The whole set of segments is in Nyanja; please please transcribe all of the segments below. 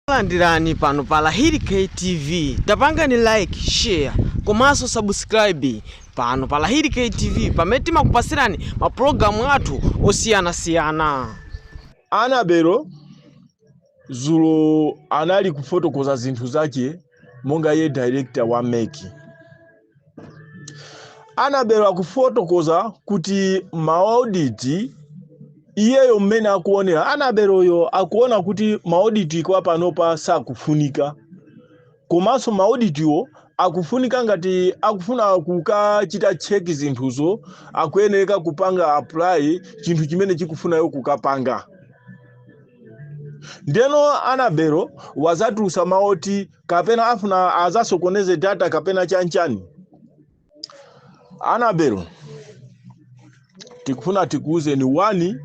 Takulandirani pano pa Lahiri K TV tapangani like, share komanso subscribe pano pa Lahiri K TV pamene timakupasirani ma program athu osiyanasiyana. Annabel dzulo anali kufotokoza zinthu zache monga iye director wa MEC. Annabel akufotokoza kuti maoditi iyeyo mmene akuonera Annabel-yo akuona kuti maoditi kwa panopa sakufunika komanso maoditiwo akufunika ngati akufuna kukachita cheki zinthuzo akuyenereka kupanga apply chinthu chimene akufunayo kukapanga ndiyeno Annabel wazatulusa mawu oti kapena afuna azasokoneze data kapena chanchani Annabel tikufuna tikuuzeni wani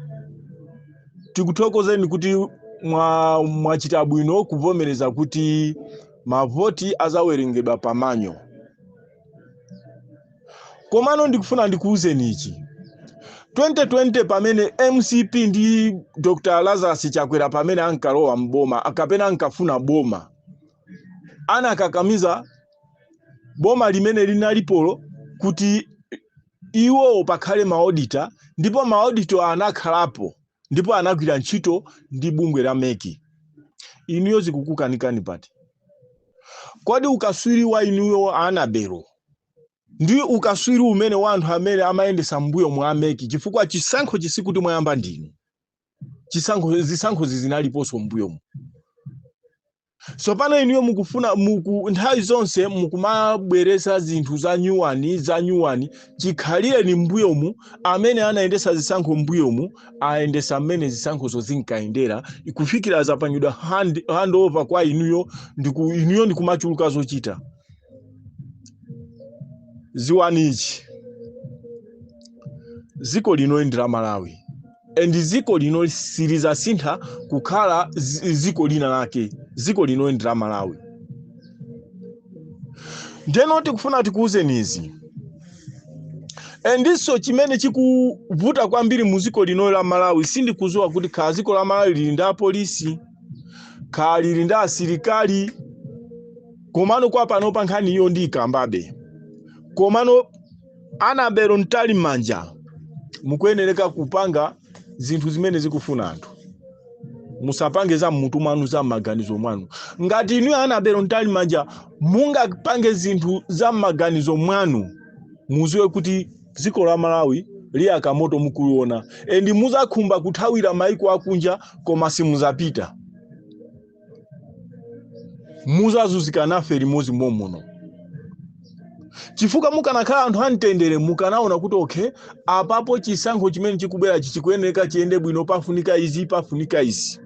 tikuthokozeni kuti mwa- mwachita bwino kuvomereza kuti mavoti azawerengedwa pa manual komano ndikufuna ndikuwuzeni ichi 2020 pamene mcp ndi dr lazarus chakwera pamene ankalowa mboma kapena ankafuna boma anakakamiza boma limene linalipolo kuti iwowo pakhale maodita ndipo maodito anakhalapo ndipo anagwira ntchito ndi bungwe la MEC inuyo zikukukanikani pati kodi ukaswiri wa inuyo Annabel ndi ukaswiri umene wa anthu amene amayendesa mbuyomo a MEC chifukwa chisankho sikuti mwayamba ndinu chisankho zisankhozi zinaliponso mbuyomu tsopano inuyo mukufuna muku nthawi zonse mukumabweresa zinthu za nyuwani za nyuwani chikhalireni mbuyomu amene anayendesa zisankho mbuyomu ayendesa mmene zisankhozo zinkayendera kufikira zapangidwa hand, hand over kwa inuyo ndiku, inuyo ndikumachuluka zochita dziwani ichi dziko lino ndi la malawi and dziko lino silizasintha kukhala zi- dziko lina lake dziko lino ndi la malawi ndeno tikufuna tikuwuzeni izi and-so chimene chikuvuta kwambiri mu dziko lino la malawi sindikudziwa kuti khala dziko la malawi lili ndi apolisi khala lili ndi asilikali komano kwa panopa nkhani iyo ndiyikambabe komano Annabel Mtalimanja mukuyenereka kupanga zinthu zimene zikufuna anthu musapange za mmutu mwanu za m'maganizo mwanu ngati inuyo Annabel Mtalimanja mungapange zinthu za m'maganizo mwanu muziwe kuti dziko la malawi liyaka moto mukuliona and muzakhumba kuthawira maiko akunja koma simuzapita muzazuzika nafe limodzi momuno chifukwa mukanakhala anthu amtendere mukanaona kuti okay apapo chisankho chimene chikubwerachi chikuyeneka chiyende bwino pafunika izi pafunika izi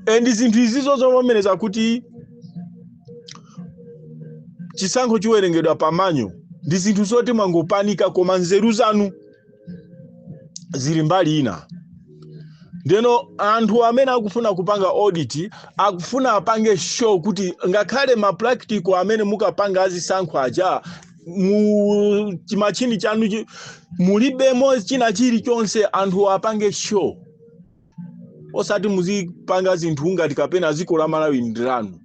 and zinthu zizo zovomereza kuti chisankho chiwerengedwa pa manual ndi zinthu zoti mwangopanika koma nzeru zanu zili mbali ina ndeno anthu amene akufuna kupanga audit akufuna apange sure kuti ngakhale ma practical amene mukapanga azisankho aja mu chimachini chanuchi mulibemo china chilichonse anthu apange sure osati muzipanga zinthu ngati kapena dziko la malawi ndi lanu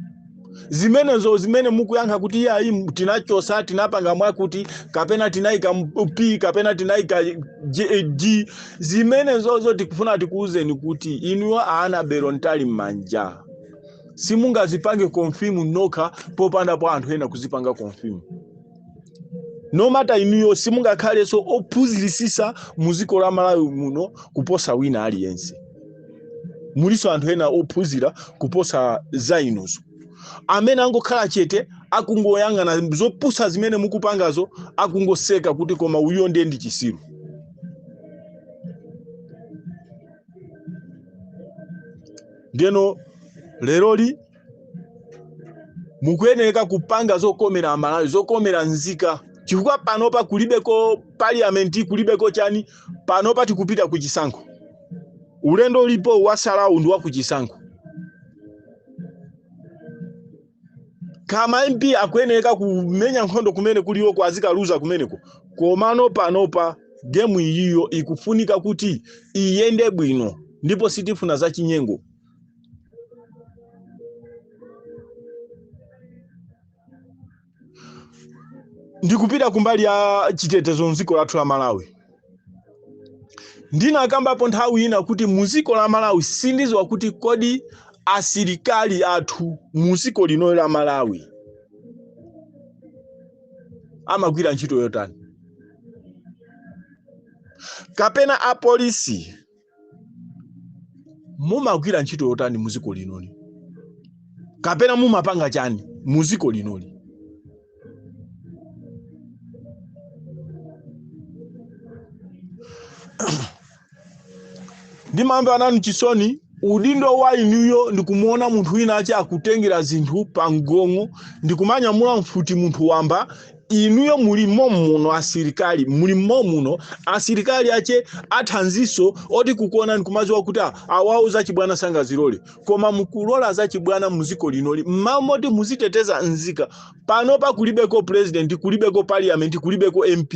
zimenezo zimene mukuyankha kuti ayi tinachosa tinapanga mwakuti kapena tinayika m- p kapena tinayika J- g zimenezozo tikufuna tikuwuzeni kuti inuyo a Annabel Mtalimanja simungazipange konfimu nokha popandapo anthu ena kuzipanga konfimu no matter inuyo simungakhalenso ophunziritsitsa mu dziko la malawi muno kuposa wina aliyense mulinso anthu ena ophunzira kuposa za inuzo amene angokhala chete akungoyang'ana zopusa zimene mukupangazo akungoseka kuti koma uyo ndiye ndi chisiru ndeno leroli mukuyenereka kupanga zokomera amalawi zokomera nzika chifukwa panopa kulibeko parliament kulibeko chani panopa tikupita ku chisankho ulendo ulipo watsalawu ndi wa ku chisankho ngati ma mp akuyenereka kumenya nkhondo kumene kulioko azikaluza kumeneko komano panopa gemu iyiyo ikufunika kuti iyende bwino ndipo sitifuna zachinyengo ndikupita kumbali ya chitetezo mdziko lathu la malawi ndinakambapo nthawi ina kuti muziko la malawi sindiziwa kuti kodi asilikali athu muziko linoli la malawi amagwira ntchito yotani kapena apolisi mumagwira ntchito yotani mu dziko linoli kapena mumapanga chani mu dziko linoli ndimamva nanu chisoni udindo wa inuyo ndikumuona munthu winawake akutengera zinthu pa mgong'o ndikumanyamula mfuti munthu wamba inuyo muli momuno asilikali muli momuno asilikali ache athanziso oti kukuona nkumaziwa kuti ah, awawo zachibwana sangazilole koma mukulola zachibwana muziko linoli m'malo moti muziteteza nzika pano pakulibeko president kulibeko parliament kulibeko mp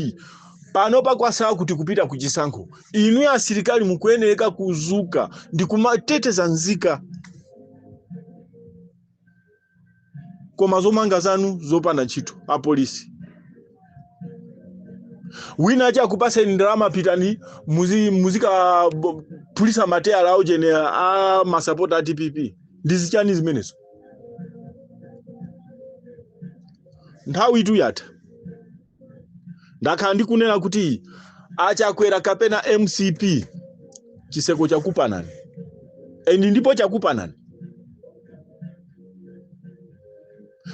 pano pakwasala kuti kupita kuchisankho inuyo asilikali mukuyenereka kuzuka ndikumateteza nzika koma zomanga zanu zopanda ntchito apolisi winawake akupaseni ndalama pitani muzi- muzikaphulisa mateyala awotchedwe a masapota a dpp ndi zichani zimenezo nthawitu yatha ndakhala ndikunena kuti achakwera kapena mcp chiseko chakupanani and ndipo chakupanani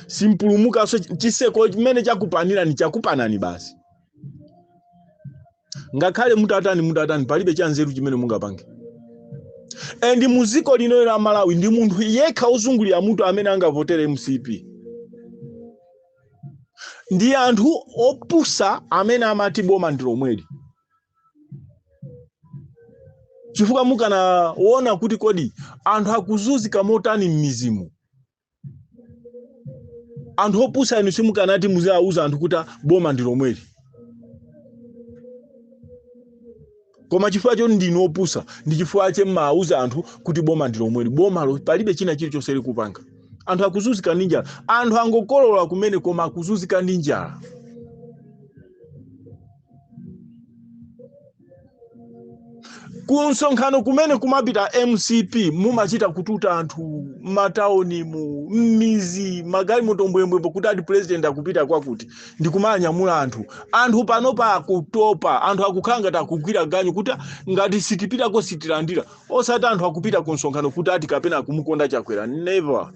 simpulumukanso chiseko chimene chakupanirani chakupanani basi ngakhale mutatani mutatani palibe chanzeru chimene mungapange and mu dziko lino la malawi ndi munthu yekha ozungulira mutu amene angavotere mcp ndi anthu opusa amene amati boma ndi lomweli chifukwa mukanaona kuti kodi anthu akuzunzika motani m'mizimu anthu opusa inu simukanati muziwauza anthu kuti boma ndi lomweli koma chifukwa choti ndinu opusa ndi chifukwa chake mmawauza anthu kuti boma ndi lomweli bomalo palibe china chilichonse likupanga anthu akuzunzika ndi njala anthu angokolola kumene koma akuzunzika ndi njala ku msonkhano kumene kumapita mcp mumachita kututa anthu m'mataunimu m'mizi magalimoto mbwembwembwe kuti ati president akupita kwakuti ndi kumanyamula anthu anthu panopa akutopa anthu akukhala ngati akugwira ganyu kuti ngati sitipitako sitilandira osati anthu akupita ku msonkhano kuti ati kapena akumukonda chakwera never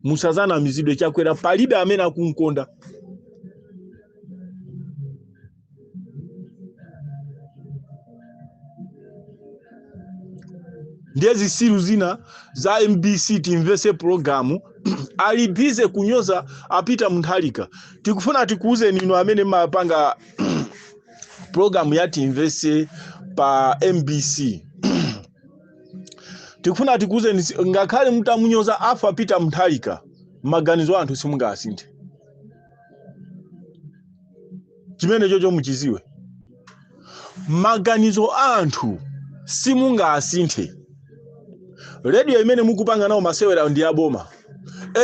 musazanamizidwe chakwera palibe amene akunkonda ndiye zisiru zina za mbc timvese pulogalamu ali busy kunyoza apita mutharika tikufuna tikuuzeni inu amene mumapanga pulogalamu ya timvese pa mbc tikufuna tikuuzeni si- ngakhale mutamunyoza arthur peter mutharika maganizo a anthu simungasinthe chimenechocho muchiziwe maganizo a anthu simungasinthe rediyo imene mukupanga nawo masewera ndi yaboma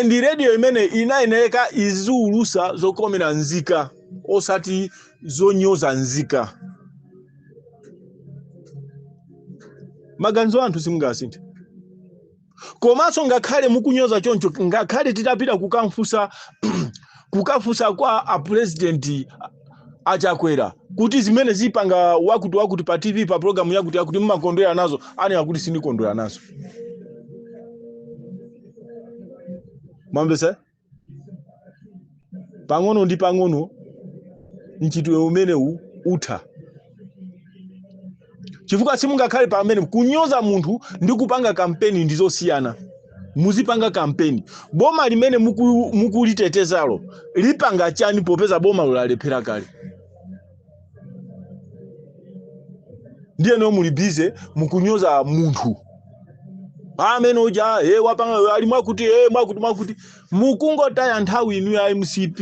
and rediyo imene inayeneka iziulusa zokomera nzika osati zonyoza nzika maganizo a anthu simungasinthe komanso ngakhale mukunyoza choncho ngakhale titapita kukamfusa kukafusa kwa apurezidenti achakwera kuti zimene zipanga wakuti wakuti pa tv pa programu yakuti yakuti mumakondwera nazo anena kuti sindikondwera nazo mwamvesa pang'ono ndi pang'ono mchitidwe umenewu utha chifukwa simungakhale pamene kunyoza munthu ndi kupanga kampeni ndi zosiyana muzipanga kampeni boma limene muku- mukulitetezalo lipanga chani popeza bomalo lalephera kale ndiyeno muli busy mukunyoza munthu amene uja e wapanga ali mwakuti e mwakuti mwakuti mukungotaya nthawi inu a mcp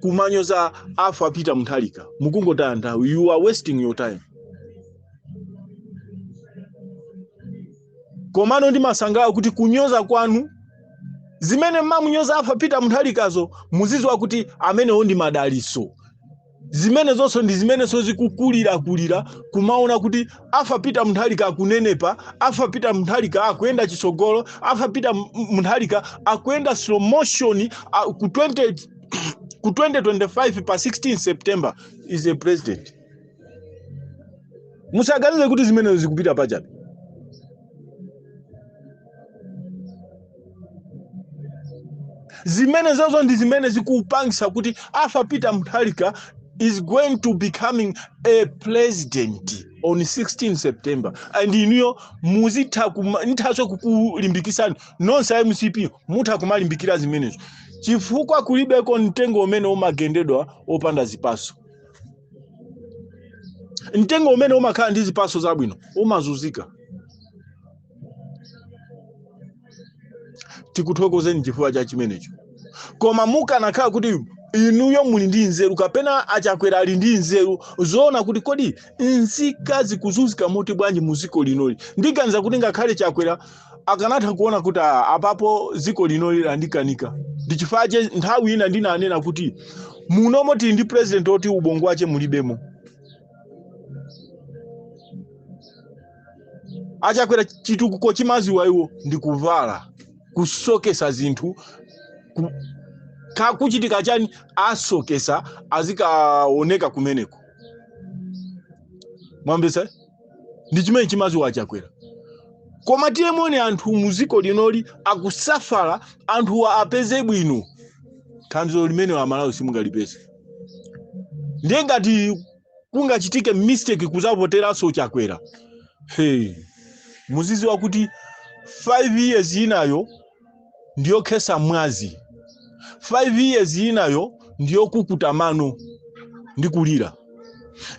kumanyoza arthur peter mutharika mukungotaya nthawi you are wasting your time komano ndimasangalala kuti kunyoza kwanu zimene mamunyoza arthur peter mutharikazo muziziwa kuti amenewo ndi madaliso zimenezonso ndi zimenenso zikukulirakulira kumaona kuti arthur peter mutharika akunenepa arthur peter mutharika akuyenda chitsogolo arthur peter m- mutharika akuyenda slow motion ah, ku 20 ku 2025 pa 16 september is a president musaganize kuti zimenezo zikupita pachabe zimenezozo ndi zimene zikupangisa kuti arthur peter mutharika is going to becoming a president on 16 september and inuyo muzitha kuma- nithaso kukulimbikisani nonse a mcp mutha kumalimbikira zimenezo chifukwa kulibeko mtengo umene umagendedwa opanda zipaso mtengo umene umakhala ndi zipaso zabwino umazuzika tikuthokozeni chifukwa cha chimenecho koma mukanakhala kuti inuyo muli ndi nzeru kapena achakwera ali ndi nzeru zoona kuti kodi nzika zikuzunzika moti bwanji mu dziko linoli ndiganiza kuti ngakhale chakwera akanatha kuona kuti ah apapo dziko linoli landikanika ndi chifukwa che nthawi ina ndinanena kuti munomo tili ndi president oti ubongo wache mulibemo a Chakwera chitukuko chimene amaziwa iwo ndi kuvala kusokesa zinthu ku- ka- kuchitika chani asokesa azikaoneka kumeneko mwamvesa ndi chimene chimaziwa a Chakwera koma tione anthu muziko linoli akusafara anthuwa apeze bwino thandizo limene amalawi simungalipeze ndiye ngati kungachitike mistake kuzavoteranso chakwera hey. muziziwa kuti 5 years inayo ndiyokhesa mwazi 5 years inayo ndiyokukuta mano ndi kulira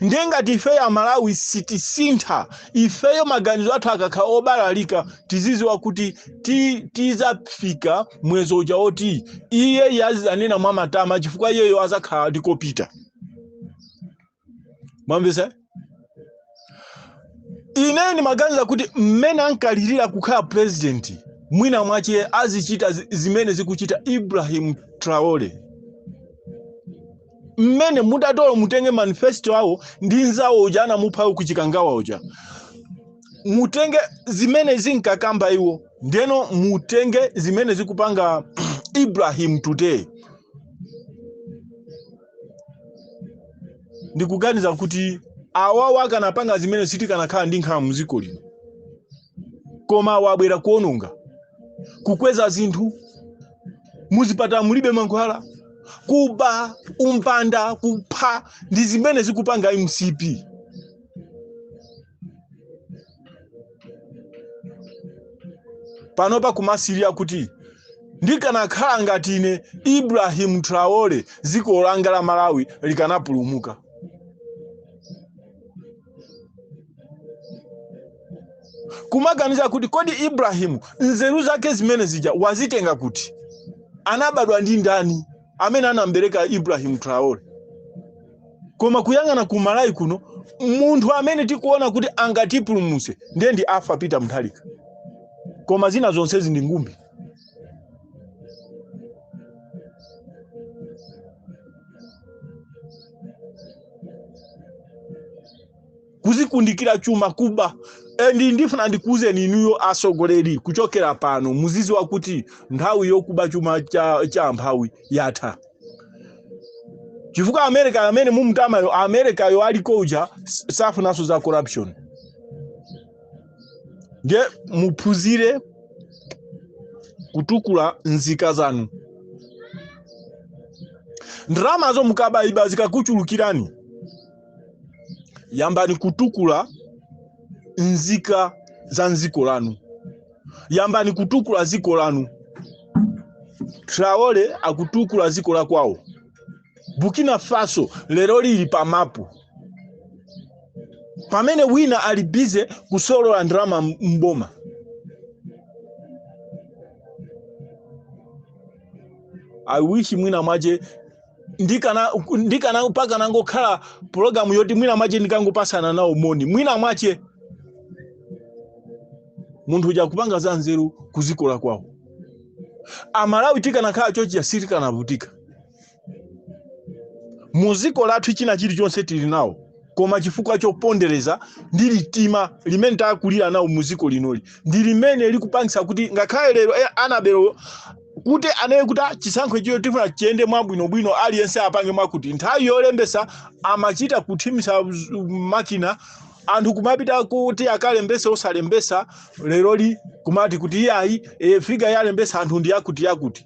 ndiye ngati ifeyo amalawi sitisintha ifeyo maganizo athu akakhala obalalika tiziziwa kuti ti- tizafika mwezi uja woti iye azizanena mwa matama chifukwa iyeyo azakhala akupita mwamvesa ine ndimaganiza kuti mmene ankalirira kukhala president mwina mwache azichita zi- zimene zikuchita ibrahim traore mmene muntatolo mutenge manifesto awo ndi mnzawo uja anamuphawo ku Chikangawa uja mutenge zimene zinkakamba iwo ndeno mutenge zimene zikupanga ibrahim today ndikuganiza kuti awawa akanapanga zimene sitikanakhala ndi nkhawa mdziko lino koma awa abwera kuononga kukweza zinthu muzipatala mulibe mankhwala kuba umbanda kupha ndi zimene zikupanga mcp panopa kumasirira kuti ndikanakhala ngati ine ibrahim traore dziko langa la malawi likanapulumuka kumaganiza kuti kodi ibrahimu nzeru zake zimene zija wazitenga kuti anabadwa ndi ndani amene anambereka Ibrahim Traore koma kuyang'ana ku Malawi kuno munthu amene tikuona kuti angatipulumutse ndiye ndi Arthur Peter Mutharika koma zina zonsezi ndi ngumbi kuzikundikira chuma kuba and ndifuna ndikuuzeni inuyo atsogoleri kuchokera pano muziziwa kuti nthawi yokuba chuma cha, cha amphawi yatha chifukwa america amene mumamtamayo america yo aliko uja s- safunanso za corruption ndiye muphunzire kutukula mzika zanu ndalamazo mukabaiba zikakuchulukirani yambani kutukula nzika za mziko lanu yambani kutukula ziko lanu traore akutukula ziko la kwawo burkina faso lero lili pa mapu pamene wina ali bize kusolola ndalama mboma i wish mwina mwache ndikana ndikana mpaka ndikanangokhala pulogalamu yoti mwina mwache ndikangopatsana nawo moni mwina mwache munthu uja kupanga za nzeru kuziko la kwawo amalawi tikanakhala chonchija sitikanavutika muziko lathu china chilichonse tili nacho koma chifukwa chopondereza ndi ndi mtima umene takulira nawo mu dziko linoli ndi limene likupangitsa kuti ngakhale lero eh, anabwelo kuti anene kuti ah, chisankhochi tifuna chiyende mwabwinobwino aliyense apange zakuti nthawi yolembesa amachita kuthimitsa z- makina anthu kumapita kuti akalembese osalembesa leroli kumati kuti iyayi e, figa yalembesa anthu ndi yakuti yakuti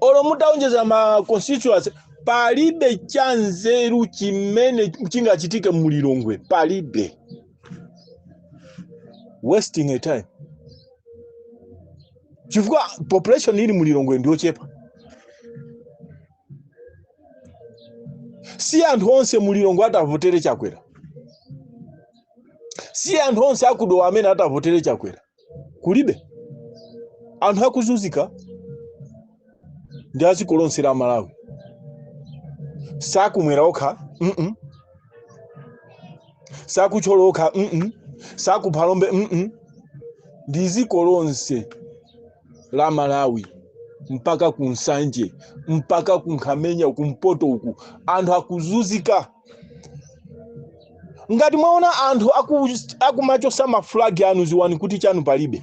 olo mutaonjeza ma constituency palibe cha nzeru chimene chingachitike mu Lilongwe palibe wasting of time chifukwa population ili mu Lilongwe ndiyochepa si anthu onse mu Lilongwe atavotere chakwera si anthu onse aku dowa amene atavotere chakwera kulibe anthu akuzunzika ndi aziko lonse la malawi si akumwera okha mm -mm. si aku thyolo okha mm -mm. si aku phalombe mm -mm. ndi ziko lonse la malawi mpaka ku nsanje mpaka ku nkhamenya kumpoto uku anthu akuzunzika ngati mwaona anthu aku- akumachosa mafulagi anu ziwani kuti chanu palibe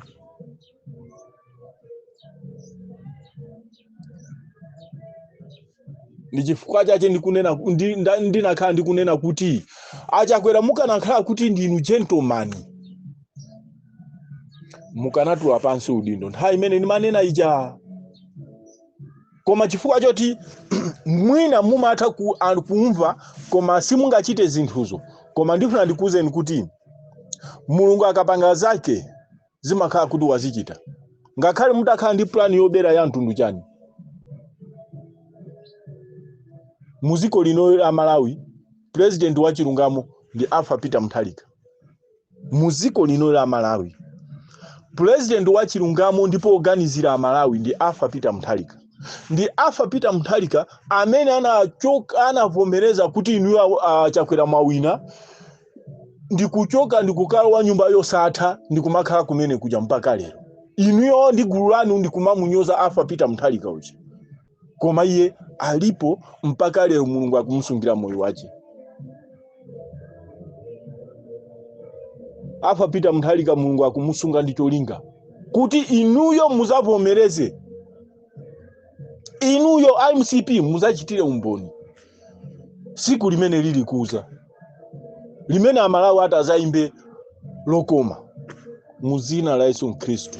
ndi chifukwa chache ndikunena ku- ndi- nda- ndinakhala ndikunena kuti achakwera mukanakhala kuti ndinu gentleman mukanatula pansi udindo nthawi imene ndimanena ija koma chifukwa choti mwina mumatha ku, a- kumva koma simungachite zinthuzo koma ndifuna ndikuwuzeni kuti mulungu akapanga zake zimakhala kuti wazichita ngakhale mutakhala ndi plani yobera ya mtundu chani muziko lino la malawi president wa chilungamo ndi arthur peter mutharika mu dziko lino la malawi pulezidenti wa chilungamo ndipo woganizira amalawi ndi Arthur Peter Mutharika ndi Arthur Peter Mutharika amene anachoka anavomereza kuti inuyo a- a- chakwera mwawina ndikuchoka ndikukalowa m'nyumba yosatha ndikumakhala kumene kuja mpaka lero inuyo ndi gulu lanu ndikumamunyoza Arthur Peter Mutharika uja koma iye alipo mpaka lero mulungu akumusungira moyo wake Arthur Peter Mutharika mulungu akumusunga ndi cholinga kuti inuyo muzavomereze inuyo mcp muzachitire umboni siku limene lilikuza limene amalawi adzayimbe lokoma muzina la yesu khristu